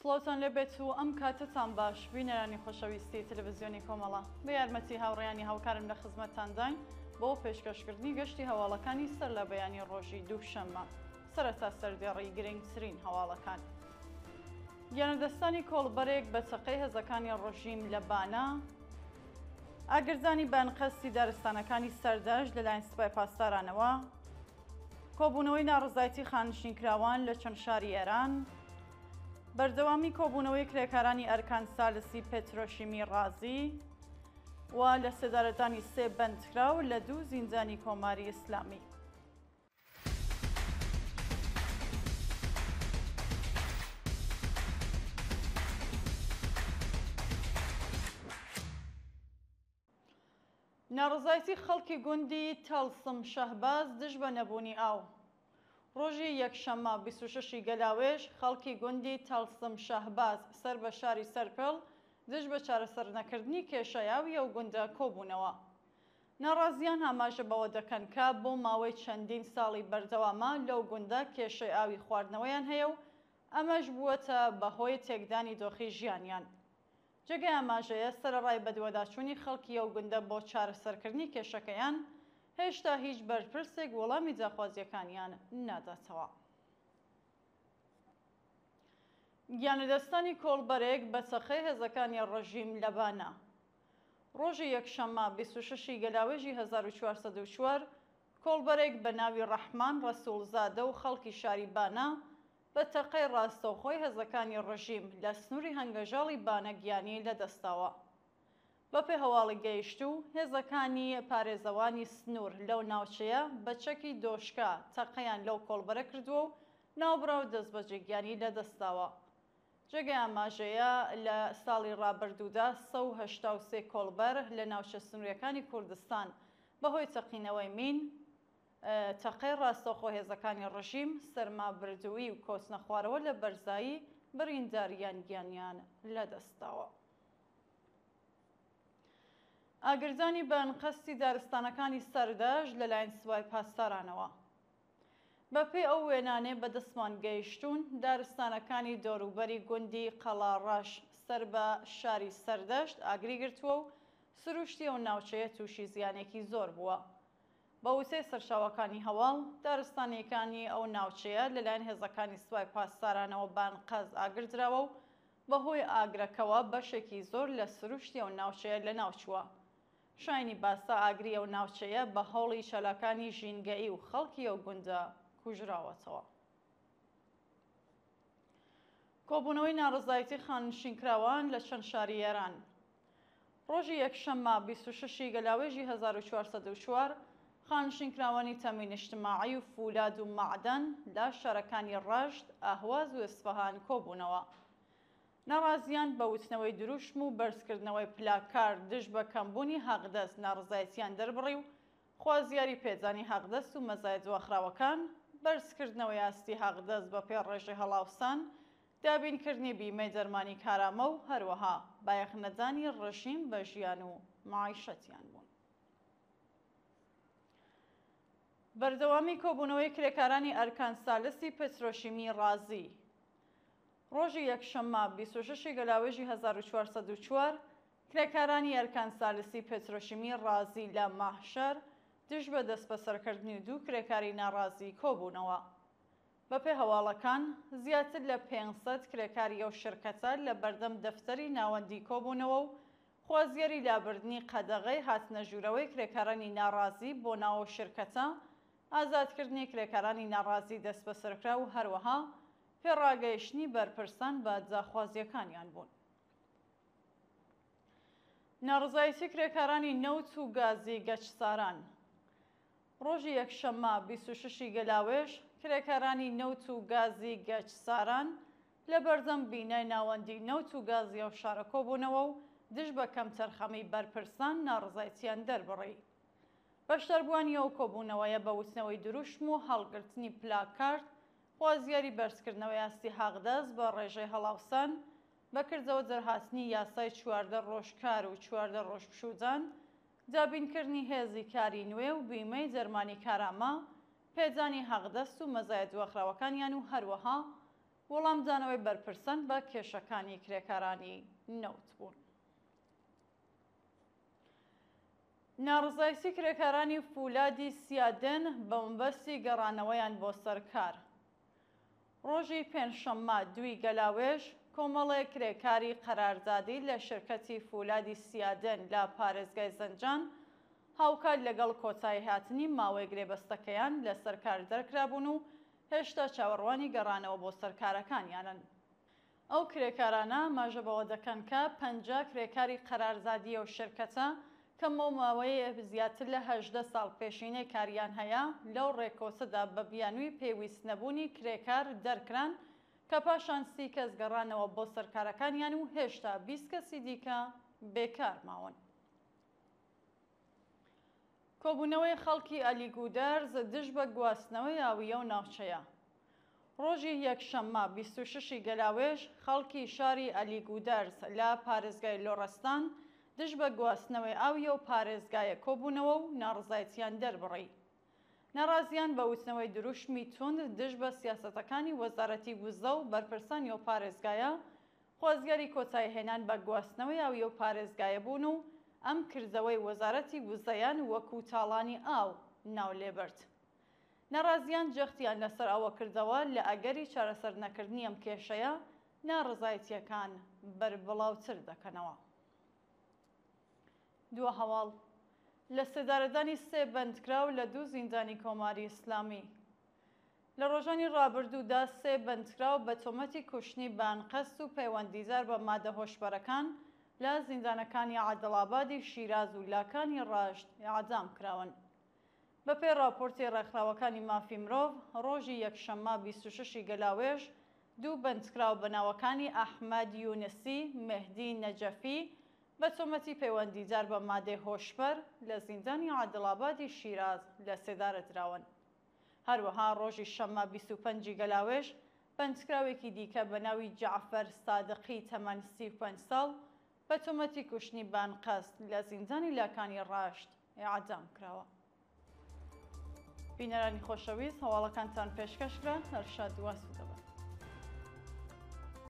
سڵاوتان لێبێت و ئەم کاتتان باش بینەرانی خۆشەویستی تەلەڤزیۆنی کۆمەڵە بە یارمەتی هاوڕیانی هاوکارم لە خزمەتتانداین بۆ پێشکەشکردنی گەشتی هەواڵەکانی سەر لە بەیانی ڕۆژی دووشەممە. سەرەتا سەردێڕی گرنگترین هەواڵەکان. گیانلەدەستدانی کۆڵبەرێک بە چەقەی هێزەکانی ڕژیم لە بانە. ئاگردانی بە ئەنقەستی دارستانەکانی سەردەشت لەلایەن سپای پاسدارانەوە. کۆبوونەوەی ناڕەزایەتی خانشینکراوان لە چەند شاری ئێران. بەردەوامی کۆبوونەوەی کرێکارانی ئەرکان سالسی پێترۆشیمی ڕازی و لە سێدارەدانی سێ بەندکراو لە دوو زیندانی کۆماری ئیسلامی. ناڕەزایتی خەڵکی گوندی تەڵسم شەهباز دژ بە نەبوونی ئاو. ڕۆژی یەکشەممە بیست و شەش ی گەلاوێژ خەڵکی گوندی تەڵسم شەهباز سەر بە شاری سەرپێڵ دژ بە چارەسەرنەکردنی کێشەی ئاوی ئەو گوندە کۆبوونەوە. ناڕازییان ئاماژە بەوە دەکەن کە بۆ ماوەی چەندین ساڵی بەردەوامە لەو گوندە کێشەی ئاوی خواردنەوەیان هەیە و ئەمەش بووەتە بەهۆی تێکدانی دۆخی ژیانیان. جێگای ئاماژەیە سەرەڕای بەدواداچوونی خەڵکی ئەو گوندە بۆ چارەسەرکردنی کێشەکەیان، هێشتا هیچ بەرپرسێک وەڵامی داخوازییەکانیان ناداتەوە. گیانلەدەستدانی کۆڵبەرێک بە چەقەی هێزەکانی ڕژیم لە بانە. ڕۆژی یەکشەممە بیست و شەش ی گەلاوێژی هەزار و چوار سەد و چوار، کۆڵبەرێک بە ناوی ڕەحمان ڕەسووڵزادە و خەڵکی شاری بانە بە تەقەی ڕاستەوخۆی هەزەکانی ڕژیم لە سنووری هەنگەژاڵی بانە گیانی لە دەستداوە. بە پێ هەواڵی گەیشتوو، هێزەکانی پارێزەوانی سنوور لەو ناوچەیە بە چەکی دۆشکە تەقەیان لەو کۆڵبەرە کردووە و ناوبراو دەستبەجێ گیانی لە دەستداوە. جێگای ئاماژەیە لە ساڵی ڕابردوودا سەد و هەشتا و سێ کۆڵبەر لە ناوچە سنووریەکانی کوردستان بە هۆی تەقینەوەی مین، تەقەی ڕاستەوخۆ هێزەکانی ڕژیم، سەرما بردوویی و کەوتنە خوارەوە لە بەرزایی بریندار یان گیانیان لە دەست داوە. ئاگردانی بە ئەنقەستی دارستانەکانی سەردەشت لەلایەن سوپای پاسدارانەوە. بەپێی ئەو وێنانەی بەدەستمان گەیشتوون، دارستانەکانی دەوروبەری گوندی قەڵاڕەش سەر بە شاری سەردەشت ئاگری گرتووە و سرووشتی ئەو ناوچەیە تووشی زیانێکی زۆر بووە. بە وتەی سەرچاوەکانی هەواڵ، دارستانییەکانی ئەو ناوچەیە لەلایەن هێزەکانی سوپای پاسدارانەوە بە ئەنقەست ئاگردراوە و بەهۆی ئاگرەکەوە بەشێکی زۆر لە سرووشتی ئەو ناوچەیە لەناوچووە. شایەنی باسە ئاگری ئەو ناوچەیە بە هەوڵی چالاکانی ژینگەیی و خەڵکی ئەو گوندە کوژراوەتەوە. کۆبوونەوەی ناڕەزایەتی خاننشینکراوان لە چەند شاری ئێران ڕۆژی یەکشەممە بیست و شەش ی گەلاوێژی هەزار و چوار سەد و چوار خاننشینکراوانی تەمین ئیجتماعی و فولاد و مەعدەن لە شارەکانی ڕەشت، ئەهواز و ئیسفەهان کۆبوونەوە. ناڕازییان بە وتنەوەی دروشم و بەرزکردنەوەی پلاکارد دژ بە کەمبوونی هاقدەست ناڕەزایەتییان دەربڕی و خوازیاری پێدانی هاقدەست و مەزایە دواخراوەکان، بەرزکردنەوەی ئاستی هاقدەست بەپێ ڕێژەی هەڵاوسان، دابینکردنی بیمەی دەرمانی کارامە و هەروەها بایەخ نەدانی ڕژیم بە ژیان و مەعیشەتیان بوون. بەردەوامی کۆبوونەوەی کرێکارانی ئەرکان سالسی پترۆشیمی ڕازی، ڕۆژی یەکشەممە بیست و شەش ی گەلاوێژی هەزار و چوار سەد و چوار کرێکارانی ئەرکان سالسی پێترۆشیمی ڕازی لە مەهشەر دژ بە دەسبەسەرکردنی دوو کرێکاری ناڕازی کۆبوونەوە. بەپێ هەواڵەکان، زیاتر لە پێنج سەد کرێکاری ئەو شرکەتە لە بەردەم دەفتەری ناوەندی کۆبوونەوە و خوازیاری لابردنی قەدەغەی هاتنە ژوورەوەی کرێکارانی ناڕازی بۆ ناو ئەو شرکەتە، ئازادکردنی کرێکارانی ناڕازی دەسبەسەرکراو و هەروەها پێڕاگەیشتنی بەرپرسان بە داخوازییەکانیان بوون. ناڕەزایەتی کرێکارانی نەوت و گازی گەچساران ڕۆژی یەکشەممە بیست و شەش ی گەلاوێژ، کرێکارانی نەوت و گازی گەچساران لە بەردەم بینای ناوەندی نەوت و گازی ئەو شارە کۆبوونەوە و دژ بە کەمتەرخەمیی بەرپرسان ناڕەزایەتییان دەربڕی. بەشداربووانی ئەو کۆبوونەوەیە بە وتنەوەی دروشم و هەڵگرتنی پلاکارد، خوازیاری بەرزکردنەوەی ئاستی حەقدەست بە ڕێژەی هەڵاوسان، بە کردەوە دەرهاتنی یاسای چواردە ڕۆژ کار و چواردە ڕۆژ پشوودان، دابینکردنی هێزی کاری نوێ و بیمەی دەرمانی کارامە، پێدانی حەقدەست و مەزایە دواخراوەکانیان و هەروەها وڵامدانەوەی بەرپرسان بە کێشەکانی کرێکارانی نەوت بوون. ناڕەزایەتی کرێکارانی فولادی سیادن بەمەبەستی گەڕانەوەیان بۆ سەر کار ڕۆژی پێنجشەممە دووی گەلاوێژ کۆمەڵێک کرێکاری قەراردادی لە شرکەتی فولادی سیادن لە پارێزگای زەنجان هاوکات لەگەڵ کۆتاییهاتنی ماوەی گرێبەستەکەیان لەسەر کار دەرکرابوون و هێشتا چاوەڕوانی گەڕانەوە بۆ سەر کارەکانیانن. ئەو کرێکارانە ئاماژە بەوە دەکەن کە پەنجا کرێکاری قەرارزادی ئەو شرکەتە کە بۆ ماوەی زیاتر لە هەژدە ساڵ پێشینەی کاریان هەیە، لەو رێکەوتەدا بە بیانوی پێویست نەبوونی کرێکار دەرکران کە پاشان سی کەس گەڕانەوە بۆ سەر کارەکانیان و هێشتا بیست کەسی دیکە بێکار ماون. کۆبوونەوەی خەڵکی ئەلی گودەرز دژ بە گواستنەوەی ئاوی ئەو ناوچەیە. ڕۆژی یەکشەممە بیست و شەش ی گەلاوێژ خەڵکی شاری ئەلی گودەرز لە پارێزگای لۆڕستان دژ بە گواستنەوەی ئاوی ئەو پارێزگایە کۆبوونەوە و ناڕەزایتییان دەربڕی. ناڕازییان بە وتنەوەی دروشمی توند دژ بە سیاسەتەکانی وەزارەتی وزە و بەرپرسانی ئەو پارێزگایە خۆزگەری کۆتایی هێنان بە گواستنەوەی ئاوی ئەو پارێزگایە بوون و ئەم کردەوەی وەزارەتی وزەیان وەکوو تاڵانی ئاو ناو لێ برد. ناڕازییان جەختیان لە سەر ئەوە کردەوە لە ئەگەری چارەسەر نەکردنی ئەم کێشەیە ناڕەزایتییەکان بەربڵاوتر دەکەنەوە. دوو هەواڵ لە سێدارەدانی سێ بەندکراو لە دوو زیندانی کۆماری ئیسلامی. لە ڕۆژانی ڕابردوودا سێ بەندکراو بە تۆمەتی کوشتنی بە ئەنقەست و پەیوەندیدار بە مادە هۆشبەرەکان لە زیندانەکانی عەدڵابادی شیراز و لاکانی ڕەشت ئێعدام کراون. بەپێی ڕاپۆرتی ڕێکخراوەکانی مافی مرۆڤ، ڕۆژی یەکشەممە بیست و شەش ی گەلاوێژ دوو بەندکراو بە ناوەکانی ئەحمەد یونسی، مێهدی نەجەفی بە تۆمەتی پەیوەندیدار بە مادەی هۆشبەر لە زیندانی عەدڵابادی شیراز لەسێدارە دراون. هەروەها ڕۆژی شەممە بیست و پەنج ی گەلاوێژ بەندکراوێکی دیکە بە ناوی جەعفەر سادقی تەمەن سی و پەنج ساڵ بە تۆمەتی کوشتنی بە ئەنقەست لە زیندانی لاکانی ڕەشت ئێعدام کراوە. بینەرانی خۆشەویست هەواڵەکانتان پێشکەش کرا هەر شاد و ئاسوودە بن.